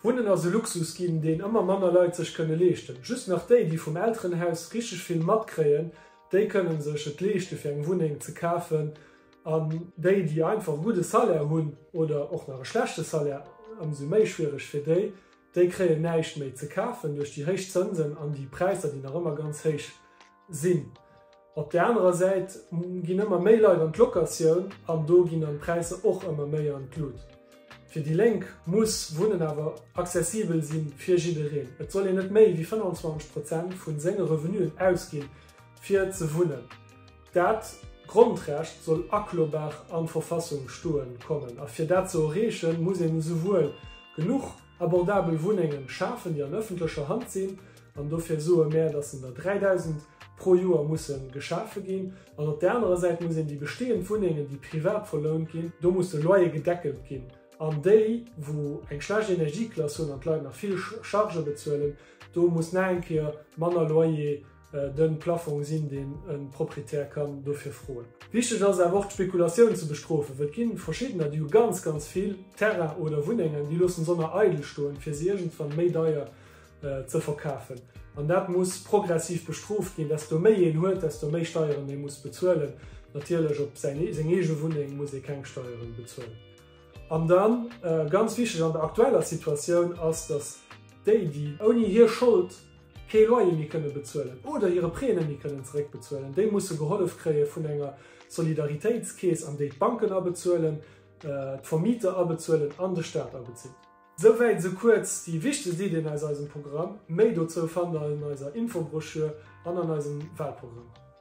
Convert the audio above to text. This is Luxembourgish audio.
Wunnen ass e Luxus ginn, deen ëmmer manner Leit sech kënne leeschten. Just nach déi, déi vum Elterenhaus richteg vill matkréien, déi kënnen sech et leeschte fir eng Wunneng ze kafen an déi, déi einfach e gudde Salaire hunn oder och nach e schlechte Salaire, ëmsou méi schwiereg fir déi, déi kréien näischt méi ze kafen duerch déi héich Zënsen an déi Präisser, déi nach ëmmer ganz héich. Sinn. Op där anerer Säit ginn ëmmer méi Leit an d'Locatioun an do ginn dann d'Präisser och ëmmer méi an d'Lut. Fir déi Lénk muss Wunnen awer accessibel si fir jiddereen. Et soll een net méi wéi 25 Prozent vu senge Revenuen ausginn, fir ze wunnen. Dat Grondrecht soll aklobar an d'Verfassung stoe kommen. A fir dat ze erreechen, muss een esouwuel genuch. Abordabel Wunnengen schafen, déi an ëffentlecher Hand sinn, an dofir soe mär, dass en der 3.000 pro Joer musse geschafe ginn. An op där anerer Säit muss een déi bestehend Wunnengen, déi privat verlount ginn, do muss de Loyer gedeckelt ginn, an déi, wou eng schlecht Energieklass hunn an d'Leit nach vill Chargë bezuelen, do muss nach eng Kéier manner Loyer den Plafong sinn, deen e Proprietär kann dofir froen. Wichteg ass awer och d'Spekulatioun ze bestrofen, well et gi verschiddener, déi hu ganz, ganz vill Terrainen oder Wunnengen, déi loossen s'onner eidel stoen, fir se iergendwann méi deier ze verkafen. An dat muss progressiv bestrooft ginn. Desto méi een huet, desto méi Steieren ee muss bezuelen. Natierlech op säin, seng eege Wunneng muss ee keng Steieren bezuelen. An dann, ganz wichteg an der aktueller Situatioun, ass, dass déi, déi ouni hir Schold, kee Loyer méi kënne bezuelen oder hire Prêt net méi kënnen zeréckbezuelen, déi musse gehollef kréie vun enger Solidaritéitskeess, an déi d'Banken abezuelen, d'Vermieter abezuelen an de Staat abezitt. Souwäit esou kuerz déi wichtegst Iddien aus eisem Programm. Méi dozou fannt der an eiser Infobroschür an an eisem Walprogramm.